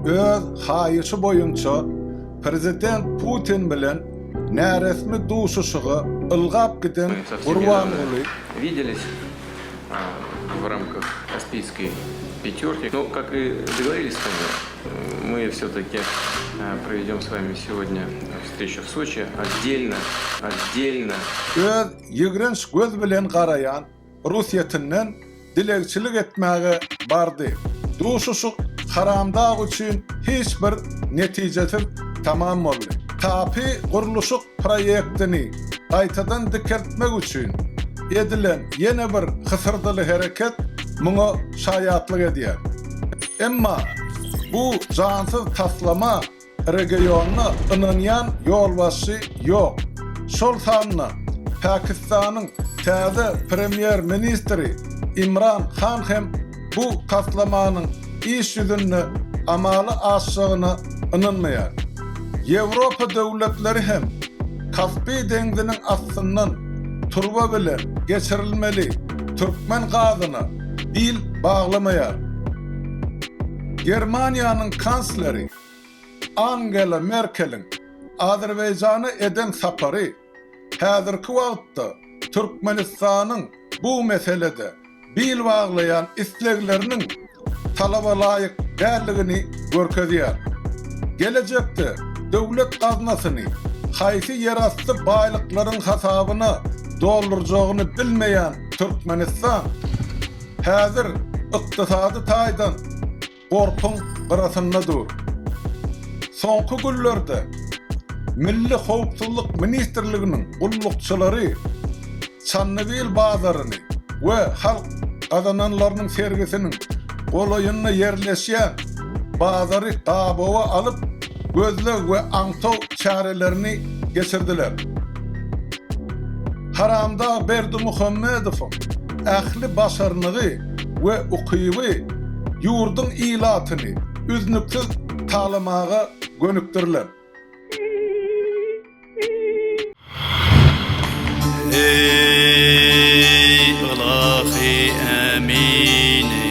Öz haýyşy boýunça prezident Putin bilen näresmi duşuşyga ylgap giden Gurbanguly, Öz ýigrenç göz bilen garaýan Ruhsýetinden dilegçilik etmäge bardy. Duşuşyk Haramdag üçin hiç bir netijesiz tamam boldy. Tape gurluşyk proýektini gaýtadan dikeltmek üçin edilen ýene bir hysyrdyly hereket muňa şaýatlyk edýär. Emma bu jansyz taslama Regionda ynanýan ýolbaşçy ýok. Şol sanda Pakistanyň täze premýer-ministri Imran Han hem bu taslamanyň iş ýüzünde amala aşjagyna ynanmaýar. Ýewropa döwletleri hem Kaspi deňziniň astyndan turba bilen geçirilmeli türkmen gazyna bil baglamaýar. Germaniýanyň kansleri Angela Merkeliň Azerbaýjana eden sapary häzirki wagtda Türkmenistanyň bu meselede bil baglaýan islegleriniň talaba laýyk däldigini görkezýär. Gelejekde döwlet gaznasyny haýsy ýerasty baýlyklaryň hasabyna doldurjagyny bilmeýän Türkmenistan häzir ykdysady taýdan, gorpuň gyrasynda dur. Soňky günlerde Milli howpsuzlyk ministrliginiň gullukçylary Çannybil bazaryny we Halk gazananlarynyň sergisiniň golaýynda ýerleşýän bazary gabawa alyp, gözleg we aňtaw çärelerini geçirdiler. Haramdag Berdimuhamedowyň ähli başarnygy we ukyby ýurduň ilatyny üznüksiz talamaga gönükdirilen. Eý, ylahy Ämini!